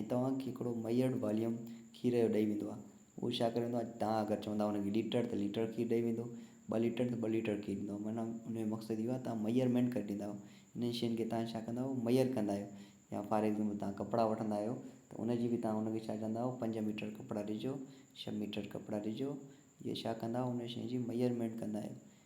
۽ توهان کي هڪڙو ميئرڊ واليوم کير جو ڏئي ويندو آهي. اهو ڇا ڪري ويندو آهي توهان اگر چوندا ان کي ليٽر ته ليٽر کير ڏئي ويندو، ٻه ليٽر ته ٻه ليٽر کير ڏيندو. معنيٰ ان جو مقصد اهو آهي توهان ميئرمينٽ ڪري ڏيندا آهيو. انهن شين کي توهان ڇا ڪندا آهيو ميئر ڪندا آهيو. يا فار ايگزامپل توهان ڪپڙا وٺندا آهيو ته ان جي به توهان ان کي ڇا چوندا آهيو پنج ميٽر ڪپڙا ڏجو، ڇهه ميٽر ڪپڙا ڏجو. اهي ڇا ڪندا آهيو ان شين جي ميئرمينٽ ڪندا آهيو.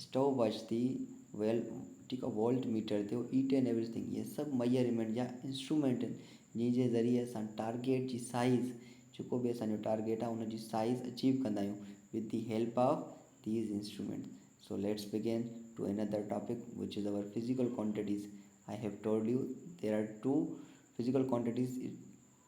اسٽاپ واچ ٿي ويل ٺيڪ آهي وولٽ ميٽر ٿيو اي ٽين ايوريج ٿنگ اهي سڀ ميجرمينٽ جا انسٽرومينٽ آهن جنهن جي ذريعي اسان ٽارگيٽ جي سائيز جيڪو به اسان جو ٽارگيٽ آهي ان جي سائيز اچيو ڪندا آهيون with the help of these instrument so let's begin to another topic which is our physical quantities I have told you there are two physical quantities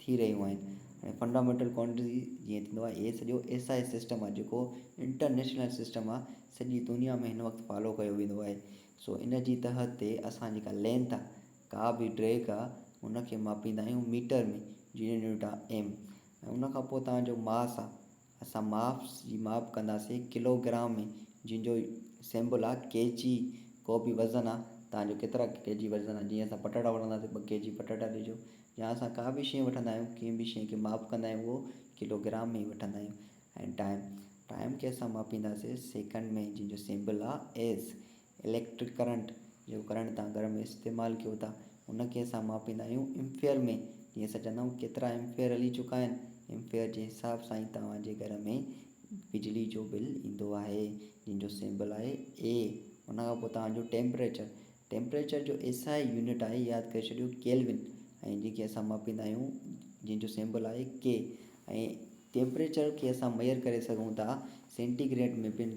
ٿي رهيون آهن هاڻي فنڊامينٽل ڪوانٽيٽي جيئن ٿيندو آهي هي سڄو ايس آء ايس سسٽم آهي جيڪو انٽرنيشنل سسٽم آهي سڄي دنيا ۾ هن وقت فالو ڪيو ويندو آهي سو ان جي تحت تي اسان جيڪا لينٿ آهي ڪا به ڊريڪ آهي ان کي ماپيندا آهيون ميٽر ۾ جي يونٽ آهي ايم ۽ ان کان پوء تنهنجو ماس آهي اسان ماپ جي ماپ ڪنداسين ڪلو گرام ۾ جنهن جو سيمبل آ ڪي جي ڪو به وزن آ توهان جو ڪيترا ڪي جي وزن آ جيئن اسان پٽاٽا وٺنداسين ٻه ڪي جي پٽاٽا ڏجو يا اسان ڪا به شي وٺندا آهيون ڪنهن به شي کي ماپ ڪندا آهيون اهو ڪلو گرام ۾ ئي وٺندا آهيون ۽ ٽائيم ٽائيم کي اسان ماپينداسين سيڪنڊ ۾ جنهن جو سيمبل آ ايز اليڪٽرڪ ڪرنٽ، جيڪو ڪرنٽ تان گهر ۾ استعمال ڪيو ٿا، ان کي اسان ماپيندا آهيون ايمفيئر ۾، جيئن اسان چوندا آهيون ڪيترا ايمفيئر هلي چڪا آهن، ايمفيئر جي حساب سان ئي توهان جي گهر ۾ بجلي جو بل ايندو آهي، جنهن جو سيمبل آهي A، ان کان پوء توهان جو ٽيمپريچر، ٽيمپريچر جو ايس آء يونٽ آهي ياد ڪري ڇڏيو ڪيلوين ۽ جنهن کي اسان ماپيندا آهيون جنهن جو سيمبل آهي K ۽ ٽيمپريچر کي اسان ميئر ڪري سگهون ٿا سينٽي گريڊ ۾ پڻ.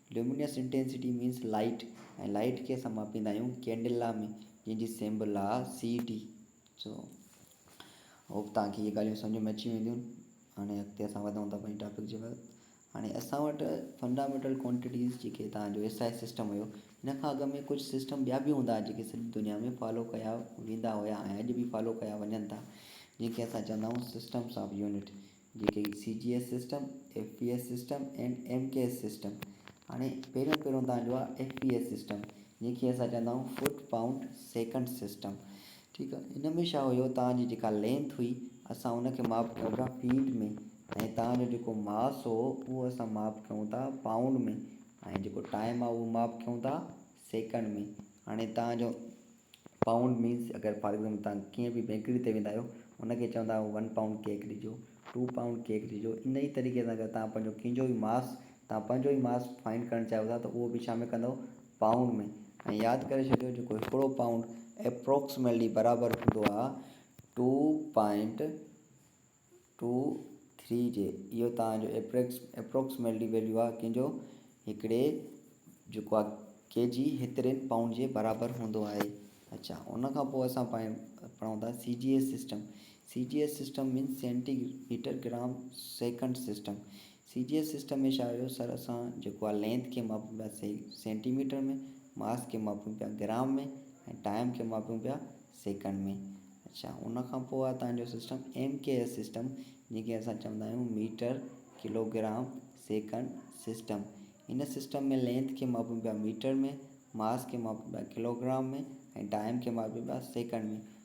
Luminous Intensity means Light ۽ Light کي اسان ماپيندا آهيون ڪينڊلا ۾ جنهن جي سيمبل آهي سي ڊي سو هوپ توهان کي اهي ڳالهيون سمجهه ۾ اچي وينديون هاڻي اڳتي اسان وڌون ٿا پنهنجي ٽاپڪ جي بعد هاڻي اسان وٽ فنڊامينٽل ڪوانٽيٽيز جيڪي تان جو ايس آء سسٽم هيو هن کان اڳ ۾ ڪجهه سسٽم ٻيا به هوندا جيڪي سڄي دنيا ۾ فالو ڪيا ويندا هيا ۽ اڄ به فالو ڪيا وڃن ٿا جنهن کي اسان چوندا آهيون سسٽمس آف يونٽ جيڪي C G S system, F P S system ۽ M K S system. هاڻي پهريون پهريون تان جو آ ايف پي ايس سسٽم جنهن کي اسان چوندا آهيون فوٽ پائونڊ سيڪنڊ سسٽم ٺيڪ آ ان ۾ ڇا هيو تان جي جيڪا لينٿ هئي اسان ان کي ماپ ڪيون ٿا فيٽ ۾ ۽ تان جو جيڪو ماس هو اهو اسان ماپ ڪيون ٿا پائونڊ ۾ ۽ جيڪو ٽائيم آ اهو ماپ ڪيون ٿا سيڪنڊ ۾ هاڻي تان جو پائونڊ مينس اگر فار ايگزامپل توهان ڪنهن به بيڪري تي ويندا آهيو ان کي چوندا آهيو ون پائونڊ ڪيڪ ڏجو ٽو پائونڊ ڪيڪ ڏجو ان ئي طريقي سان اگر توهان پنهنجو ڪنهن جو به ماس توهان پنهنجو ئي ماس فائنڊ ڪرڻ چاهيو ٿا ته اهو به ڇا ۾ ڪندو پائونڊ ۾ ۽ ياد ڪري ڇڏيو جيڪو هڪڙو پائونڊ ايپروڪسميلٽلي برابر هوندو آهي ٽو پوائنٽ ٽو ٿري جي اهو توهان جو ايپريڪس اپروڪسميلٽي ويليو آهي ڪنهن جو هڪڙي جيڪو آهي ڪي جي هترين پائونڊ جي برابر هوندو آهي اڇا ان کان پوء اسان پائي پڙهون ٿا C G S system C G S system means centimetre gram second system C G S system ۾ ڇا هيو سر اسان جيڪو آ لينٿ کي ماپيون پيا سينٽي ميٽر ۾ ماس کي ماپيون پيا گرام ۾ ۽ ٽائيم کي ماپيون پيا سيڪنڊ ۾ اڇا ان کان پوء آ تنهنجو system M K S system جنهن کي اسان چوندا آهيون metre kilogram second system ان سسٽم ۾ لينٿ کي ماپيون پيا ميٽر ۾ ماس کي ماپيون پيا ڪلو گرام ۾ ۽ ٽائيم کي ماپيون پيا سيڪنڊ ۾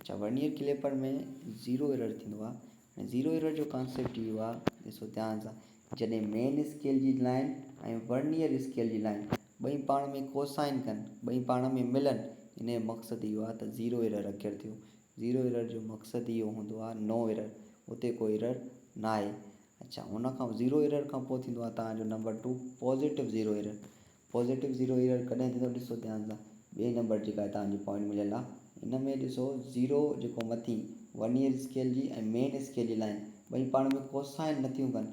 اڇا ورنيئر ڪليپر ۾ زيرو ايرر ٿيندو آ ۽ زيرو ايرر جو ڪانسيپٽ اهو آ ڏسو ڌيان سان جڏهن مين اسڪيل جي لائين ۽ ورنيئر اسڪيل جي لائين ٻئي پاڻ ۾ ڪوسائن ڪن ٻئي پاڻ ۾ ملن ان جو مقصد اهو آ ته زيرو ايرر اڪير ٿيو زيرو ايرر جو مقصد اهو هوندو آ نو ايرر اتي ڪو ايرر ناهي اڇا ان کان زيرو ايرر کان پوء ٿيندو آ توهان جو number two positive zero error positive zero error ڪڏهن ٿيندو ڏسو ڌيان سان ٻئي نمبر جيڪا هتان جي پوائنٽ مليل آ ان ۾ ڏسو زيرو جيڪو مٿين ورنيئر اسڪيل جي ۽ مين اسڪيل جي لائين ٻئي پاڻ ۾ ڪوسائن نٿيون ڪن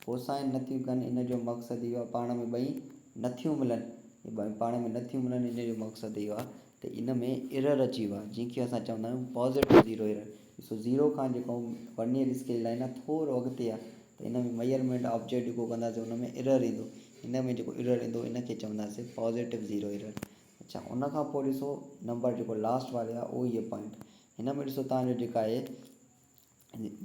ڪوسائن نٿيون ڪن ان جو مقصد اهو آ پاڻ ۾ ٻئي نٿيون ملن ٻئي پاڻ ۾ نٿيون ملن ان جو مقصد اهو آ ته ان ۾ ايرر اچي ويو آهي جنهن کي اسان چوندا آهيون پازيٽو زيرو ايرر ڏسو زيرو کان جيڪو ورنيئر اسڪيل لائين آهي ٿورو اڳتي آهي ته ان ۾ ميئرمينٽ آبجيڪٽ جيڪو ڪنداسين ان ۾ ايرر ايندو ان ۾ جيڪو ايرر ايندو ان کي چونداسين پازيٽو زيرو ايرر اڇا ان کان پوء ڏسو نمبر جيڪو لاسٽ واري آهي اهو هي پوائنٽ هن ۾ ڏسو تهنجو جيڪا اهي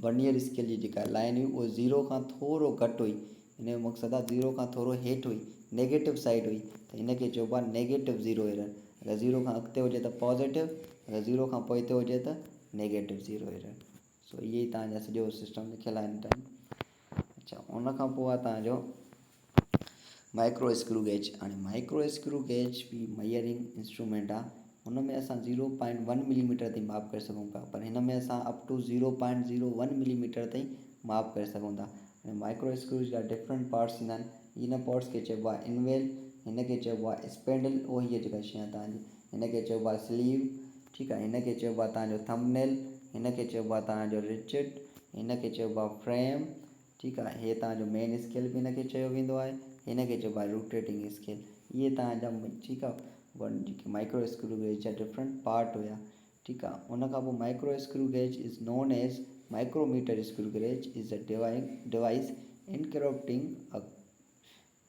ورنيئر اسڪيل جي جيڪا لائين هئي اهو زيرو کان ٿورو گهٽ هئي ان جو مقصد آهي زيرو کان ٿورو هيٺ هئي نيگيٽو سائيڊ هئي ته ان کي چئبو آهي نيگيٽو زيرو ايرر اگر زيرو کان اڳتي هجي ته پازيٽو اگر زيرو کان پوئتي هجي ته نيگيٽو زيرو ايرر سو اهي تانجا سڄو سسٽم لکيل آهن اچا ان کان پوء آهي تانجو مائڪرو اسڪرو گيج هاڻي مائڪرو اسڪرو گيج به ميئرنگ انسٽرومينٽ آهي هن ۾ اسان zero point one millimetre تائين ماپ ڪري سگهون پيا پر هن ۾ اسان up to zero point zero one millimetre تائين ماپ ڪري سگهون ٿا هاڻي مائڪرو اسڪرو جا ڊفرنٽ پارٽس ٿيندا آهن ان پارٽس کي چئبو آهي انويل هن کي چئبو آهي اسپينڊل اهو هيء جيڪا شي آهي تنهنجي هن کي چئبو آهي سليو ٺيڪ آهي هن کي چئبو آهي تنهنجو ٿمب نيل هن کي چئبو آهي تنهنجو رچٽ هن کي چئبو آهي فريم ٺيڪ آهي هي توهان جو مين اسڪيل به هن کي چيو ويندو آهي هن کي چئبو آهي روٽيٽنگ اسڪيل اهي توهان جا ٺيڪ آهي ون جيڪي مائڪرو اسڪرو گيج جا ڊفرنٽ پارٽ هيا ٺيڪ آهي ان کان پوء micro screw gauge is known as micrometer screw gauge is a device encrypting a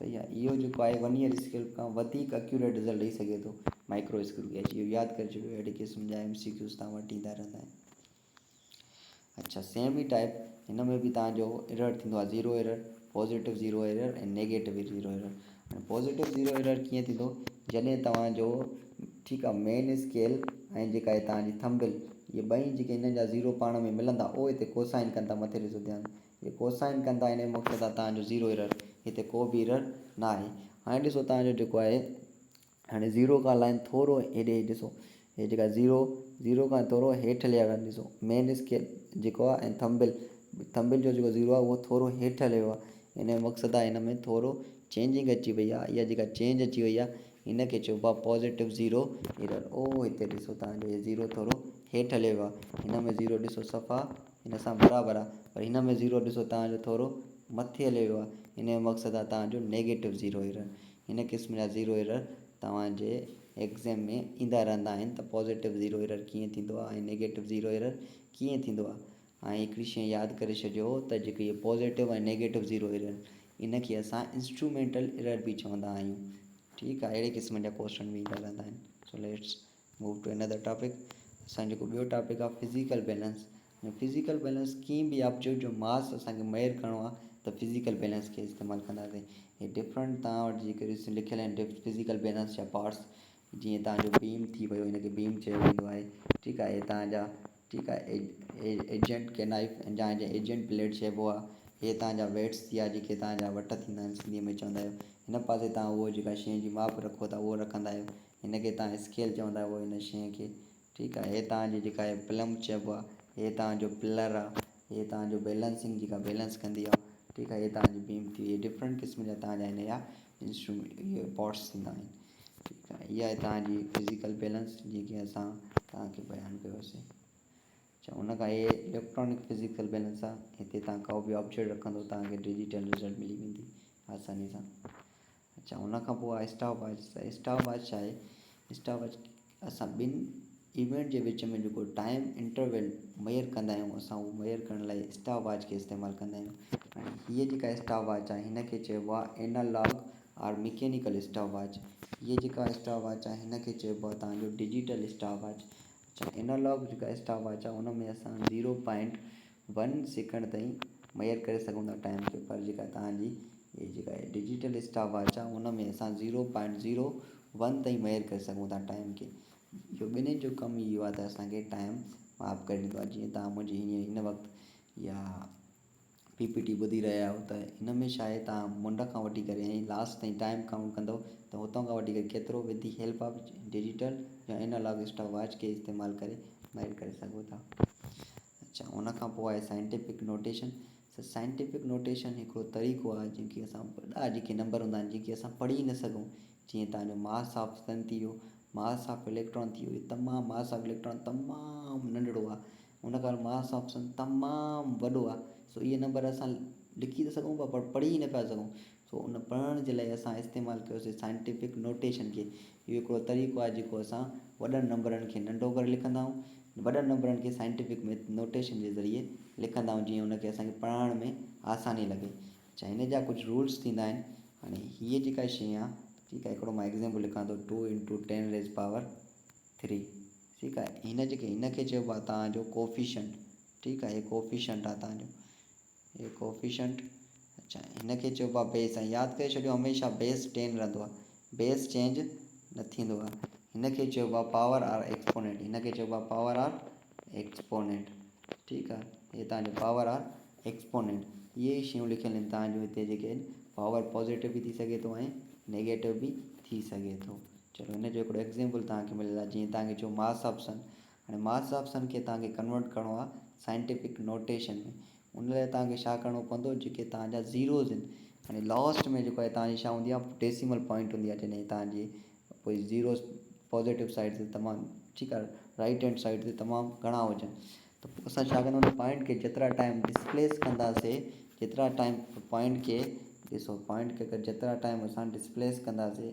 صحيح آهي اهو جيڪو آهي ون يئر اسڪيل کان وڌيڪ اڪيوريٽ رزلٽ ڏئي سگهي ٿو مائڪرو اسڪيل گيج اهو ياد ڪري ڇڏيو اهڙي قسم جا ايم سي ڪيوز تان وٽ ايندا رهندا آهن اچھا سيم ئي ٽائپ هن ۾ به تان جو ايرر ٿيندو آهي zero error positive zero error ۽ negative zero error هاڻي پوزيٽو زيرو ايرر ڪيئن ٿيندو جڏهن توهان جو ٺيڪ آهي مين اسڪيل ۽ جيڪا هي توهان جي ٿمبل اهي ٻئي جيڪي هن جا زيرو پاڻ ۾ ملندا اهي هتي ڪوسائن ڪن ٿا مٿي ڏسو ڌيان جي ڪوسائن ڪندا انهي موقعي تان توهان جو زيرو ايرر هتي ڪو به ايرر ناهي هاڻي ڏسو توهان جو جيڪو آهي هاڻي زيرو کان لائين ٿورو هيڏي هي ڏسو هي جيڪا زيرو زيرو کان ٿورو هيٺ لهيو آهي ڏسو مين اسڪيل جيڪو آهي ۽ ٿمبل ٿمبل جو جيڪو زيرو آهي اهو ٿورو هيٺ لهيو آهي ان جو مقصد آهي هن ۾ ٿورو چينجنگ اچي وئي آهي اها جيڪا چينج اچي وئي آهي ان کي چئبو آهي پوزيٽو زيرو ايرر اهو هتي ڏسو توهان جو هي زيرو ٿورو هيٺ لهيو آهي هن ۾ زيرو ڏسو صفا هن سان برابر آ پر هن ۾ زيرو ڏسو توهان جو ٿورو مٿي هليو ويو آ ان جو مقصد آ توهان جو نيگيٽو زيرو ايرر هن قسم جا زيرو ايرر توهان جي ايگزيم ۾ ايندا رهندا آهن ته پازيٽو زيرو ايرر ڪيئن ٿيندو آ ۽ نيگيٽو زيرو ايرر ڪيئن ٿيندو آ هاڻي هڪڙي شئي ياد ڪري ڇڏيو ته جيڪو هي پازيٽو ۽ نيگيٽو زيرو ايرر ان کي اسان انسٽرومينٽل ايرر به چوندا آهيون ٺيڪ آ اهڙي قسم جا ڪوئسچن به ايندا رهندا آهن سو ليٽس Move to another topic، اسان جو جيڪو ٻيو ٽاپڪ آهي فزيڪل بيلنس ۽ فزيڪل بيلنس ڪيئن به آپ جو جو ماس اسان کي ميئر ڪرڻو آهي ته فزيڪل بيلنس کي استعمال ڪنداسين هي ڊفرنٽ توهان وٽ جيڪي ريسنٽ لکيل آهن ڊف فزيڪل بيلنس جا پارٽس جيئن توهان جو بيم ٿي ويو هن کي بيم چيو ويندو آهي ٺيڪ آهي هي توهان جا ٺيڪ آهي ايجنٽ ڪي نائف جا ايجنٽ پليٽ چئبو آهي هي توهان جا ويٽس ٿيا جيڪي توهان جا وٽ ٿيندا آهن سنڌي ۾ چوندا آهيو هن پاسي توهان اهو جيڪا شين جي ماپ رکو ٿا اهو رکندا آهيو هن کي تان اسڪيل چون ٿا پوء هن شيء کي ٺيڪ آهي هي تان جو جيڪا هي پلمب چئبو آهي هي تان جو پلر آهي هي تان جو بيلنسنگ جيڪا بيلنس ڪندي آهي ٺيڪ آهي هي تان جي بيم ٿي وئي ڊفرنٽ قسم جا تان جا هن جا انسٽرومينٽ اهي پارٽس ٿيندا آهن ٺيڪ آهي اها آهي تان جي فزيڪل بيلنس جيئن ڪي اسان تان کي بيان ڪيوسي اچا ان کان اهي اليڪٽرانڪ فزيڪل بيلنس آهي هتي تان ڪو به آبجيڪٽ رکندو تان کي ڊجيٽل رزلٽ ملي ويندي آساني سان اچا ان کان پوء آهي اسٽاپ واچ ته اسٽاپ واچ ڇا آهي اسٽاپ واچ اسان ٻن ايونٽ جي وچ ۾ جيڪو ٽائيم انٽرويل ميئر ڪندا آهيون اسان اهو ميئر ڪرڻ لاء اسٽاپ واچ کي استعمال ڪندا آهيون ۽ هيء جيڪا اسٽاپ واچ آهي هن کي چئبو آهي analogue or mechanical stopwatch هيء جيڪا اسٽاپ واچ آهي هن کي چئبو آهي تهان جو ڊجيٽل اسٽاپ واچ اينالاگ جيڪا اسٽاپ واچ آهي ان ۾ اسان زيرو پوائنٽ ون سيڪنڊ تائين ميئر ڪري سگهون ٿا ٽائيم کي پر جيڪا توهان جي هي جيڪا ڊجيٽل اسٽاپ واچ آهي ان ۾ اسان زيرو پوائنٽ زيرو ون تائين ميئر ڪري سگهون ٿا ٽائيم کي جو ٻنهي جو ڪم ئي اهو آهي ته اسان کي ٽائيم ماپ ڪري ڏيندو آهي جيئن توهان منهنجي هينئر هن وقت يا پي پي ٽي ٻڌي رهيا آهيو ته هن ۾ ڇا آهي توهان منڍ کان وٺي ڪري ۽ لاسٽ تائين ٽائيم ڪائونٽ ڪندو ته هتان کان وٺي ڪري ڪيترو وڌ دي هيلپ آف ڊجيٽل يا انالاگ اسٽاپ واچ کي استعمال ڪري ميئر ڪري سگهو ٿا اڇا ان کان پوء آهي scientific notation sir scientific notation هڪڙو طريقو آهي جنهن کي اسان وڏا جيڪي نمبر هوندا آهن جن کي اسان پڙهي نه سگهون جيئن توهان جو ماس آف سن ٿي ويو ماس آف اليڪٽران ٿي ويو تمام ماس آف اليڪٽران تمام ننڍڙو آهي ان ڪري ماس آف سن تمام وڏو آهي سو اهي نمبر اسان لکي ته سگهون پر پڙهي نه پيا سگهون سو ان پڙهڻ جي لاء اسان استعمال ڪيوسي سائنٽيفڪ نوٽيشن کي. اهو هڪڙو طريقو آهي جيڪو اسان وڏن نمبرن کي ننڍو ڪري لکندا آهيون. وڏن نمبرن کي سائنٽيفڪ نوٽيشن جي ذريعي لکندا آهيون جيئن ان کي اسان کي پڙهائڻ ۾ آساني لڳي. اڇا هن جا ڪجهه رولس ٿيندا آهن. هاڻي هيء جيڪا شيء آهي ٺيڪ آهي هڪڙو مان ايگزيمپل لکان ٿو two into ten raise power ٿري ٺيڪ آهي هن جيڪي هن کي چئبو آهي توهان جو ڪوفيشنٽ ٺيڪ آهي هي ڪوفيشنٽ آهي توهان جو. هيء ڪوفيشنٽ، اڇا هن کي چئبو آهي بيس ۽ ياد ڪري ڇڏيو هميشه بيس ٽين رهندو آهي. بيس چينج نه ٿيندو آهي. هن کي چئبو آهي پاور آر ايڪسپونينٽ، هن کي چئبو آهي پاور آر ايڪسپونينٽ. ٺيڪ آهي. هيء توهان جو پاور آر ايڪسپونينٽ. اهي ئي شيون لکيل آهن توهان جون هتي جيڪي آهن. پاور پازيٽو به ٿي سگهي ٿو ۽ نيگيٽو به ٿي سگهي ٿو. چلو هن جو هڪڙو ايگزيمپل توهان کي مليل آهي جيئن توهان کي چئون ماس آف سن هاڻي ماٿس آپشن کي توهان کي ڪنورٽ ڪرڻو آهي سائنٽيفڪ نوٽيشن ۾ ان لاء توهان کي ڇا ڪرڻو پوندو جيڪي توهان جا زيروز آهن هاڻي لاسٽ ۾ جيڪو آهي توهان جي ڇا هوندي آهي ڊيسيمل پوائنٽ هوندي آهي جڏهن توهان جي پوء زيروز پازيٽو سائيڊ تي تمام ٺيڪ آهي رائيٽ هينڊ سائيڊ تي تمام گهڻا هجن ته پوء اسان ڇا ڪنداسين پوائنٽ کي جيترا ٽائيم ڊسپليس ڪنداسين جيترا ٽائيم پوائنٽ کي ڏسو پوائنٽ کي جيترا ٽائيم اسان ڊسپليس ڪنداسين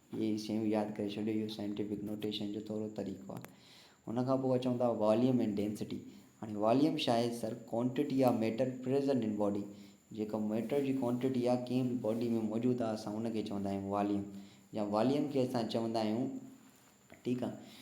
اهي ئي شيون ياد ڪري ڇڏيو اهو سائنٽيفڪ نوٽيشن جو ٿورو طريقو آهي ان کان پوء اچون ٿا واليوم ۽ ڊينسٽي هاڻي واليوم ڇا آهي sir quantity of matter present in body جيڪا ميٽر جي ڪوانٽٽي آهي ڪنهن به باڊي ۾ موجود آهي اسان ان کي چوندا آهيون واليوم يا واليوم کي اسان چوندا آهيون ٺيڪ آهي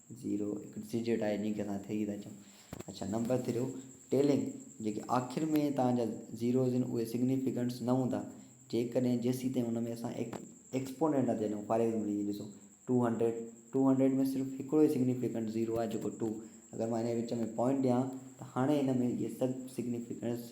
زيرو هڪ ڊجٽ آهي جنهن کي اسان ٿري ٿا چئون اڇا نمبر ٿريو ٽيلنگ جيڪي آخر ۾ توهان جا زيروز آهن اهي سگنيفڪنٽس نه هوندا جيڪڏهن جيسين تائين ان ۾ اسان ايڪسپونينٽ نه ٿا ڏيون فار ايگزامپل هي ڏسو ٽو هنڊريڊ ٽو هنڊريڊ ۾ صرف هڪڙو ئي سگنيفڪنٽ زيرو آهي جيڪو ٽو اگر مان ان جي وچ ۾ پوائنٽ ڏيان ته هاڻي ان ۾ اهي سڀ سگنيفڪنٽس